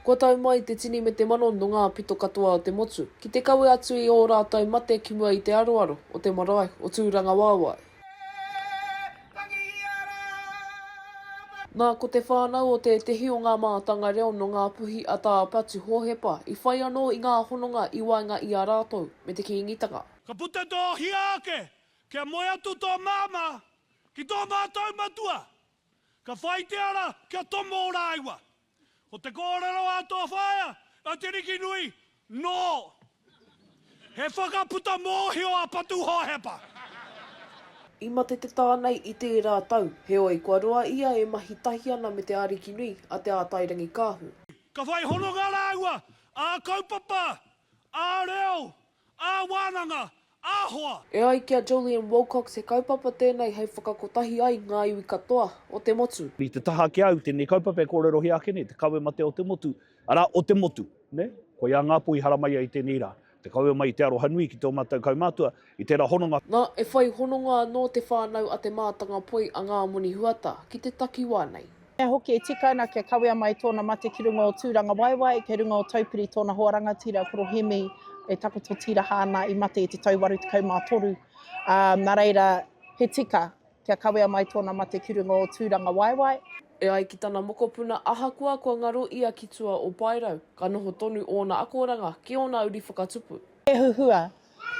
Kua tau mai te tini me te mano no nga pito katoa o te motu, ki te kawe atu i o ratou mate ki mua i te aroaro o te marae o Turangawaewae. Na, ko te whanau o tetehi o nga maatanga reo no nga puhi a Ta Patu Hohepa i whai ano i nga hononga i waenga i a ratou me te Kiingitanga. Ka puta to hia ake, kia moe atu to mama ki to matou matua. Ka whai te ara kia tomo rāua. Ko te kōrero a tō whaea, a Te Rikinui, nō He whakaputa mōhio a Patuhohepa. I mate te tā nei i tērā tau, heoi kua roa ia e mahi tahi ana me te Arikinui a Te Ātairangikaahu. Ka whai hononga rāua ā-kaupapa, ā-reo, Ā-wānanga, ā-hoa. E ai ki a Jolyon Wilcox he kaupapa tēnei hei whakakotahi ai ngā iwi katoa o te motu. I te taha ki a au tēnei kaupapa e kōrerohia ake nei te kawe matea o te motu, arā, o te motu. Koiā ngā pō i haramaia i tēnei rā, te kawe mai i te aroha nui ki tō mātou kaumātua i tērā hononga. Nā, e whai hononga anō te whānau a Te Mātanga Poi a Ngā Moni Huata ki te takiwā nei. Pea hoki e tika ana kia kawea mai tōna mate ki runga o Tūrangawaewae, kei runga o Taupiri tōna hoa rangatira, Koro Hemi, e takoto tīraha ana i mate i te tau 83, ā, nā reira, he tika kia kawea mai tōna mate ki runga o Tūrangawaewae. E ai ki tana mokopuna ahakoa kua ngaro ia ki tua o Paerau, ka noho tonu ōna akoranga ki ōna uri whakatupu. He huhua,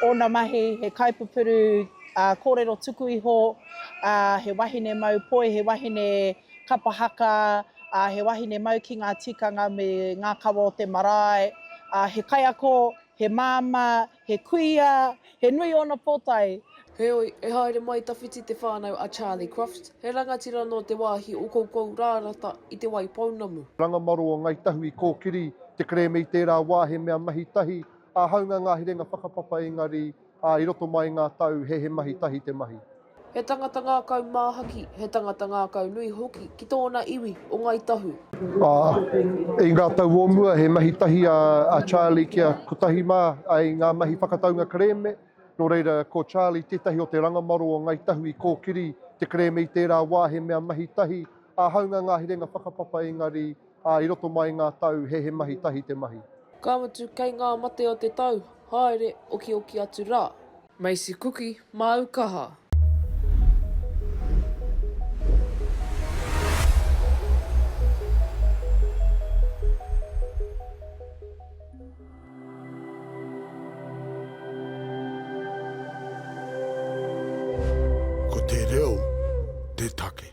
Ōna mahi, he kaipupuru kōrero tuku iho, he wahine mau poi, he wahine kapa haka, he wahine mau ki ngā tikanga me ngā kawa o te marae, he kaiako, he māmā, he kuia, he nui ōna pōtae. Heoi, e haere mai tawhiti te whānau a Charlie Crofts, he rangatira nō te wāhi o Koukourārata i Te Waipounamu. Rangamaro o Ngai Tahu i kōkiri te kerēme i tērā wā he mea mahi tahi Āhaunga ngā herenga whakapapa engari ā, i roto mai ngā tau he he mahi tahi te mahi. He tangata ngākau māhaki, he tangata ngākau nui hoki ki tōna iwi o Ngāi Tahu. Ā, i ngā tau o mua he mahi tahi a Charlie ki a Kotahi mā i ngā mahi whakataunga kerēme, nō reira ko Charlie tētahi o te rangamaro o Ngāi Tahu i kōkiri te kerēme i tērā wā he mea mahi tahi, āhaunga ngā herenga whakapapa engari Ā, i roto mai i ngā tau, he he mahi tahi te mahi. Ka mutu, kei ngā mate o te tau, haere, okioki atu rā. Macy Kuki, māu kaha. Ko te reo te take.